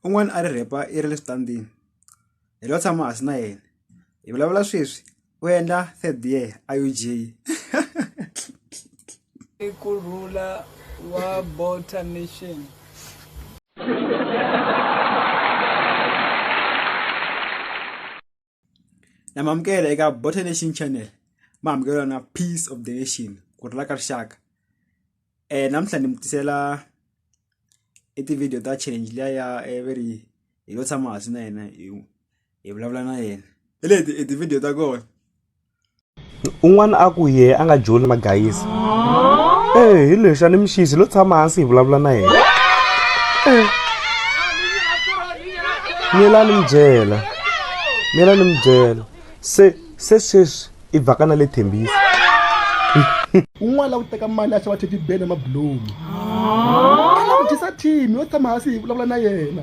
un'wana a ri rhepa i ri le switandini hi lo tshama hansi na yena hi vulavula sweswi u endla third year a U_G i ku rhula wa bota nation namamukela eka bota nation channel ma amukela na peace of the nation ku rila ka rixaka um namuntlha ni mi tisela i ti-video ta change liya ya eh, ve ri hi lo tshama hansi na yena hi vulavula na yena hi leti i ti-video ta kona un'wana a ku yehe a nga joli magayisi ee hi lexi a ni mixisi lo tshama hansi hi vulavula na yena ee miyela ni mi byela miyela ni mi byela se se sweswi i vhaka na le thembisa un'wana la ku teka mali a xava thetibele mabulomu a la ku dyisa thimi yo tshama hansi hi vulavula na yena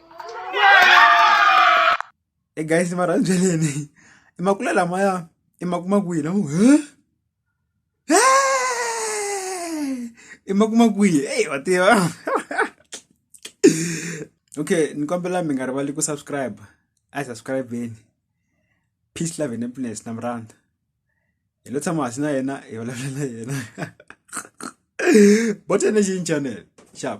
e guys ni va rhandzeleneyi i makula lamaya i makuma kwihi lamo i makuma kwihi eyi wa tiva okay ni kombela mi nga rivali ku subscribe a hi subscribeni peace love and happiness na mi rhandza hi lo tshama hasi na yena hi vulavula na yena botene xi channel xap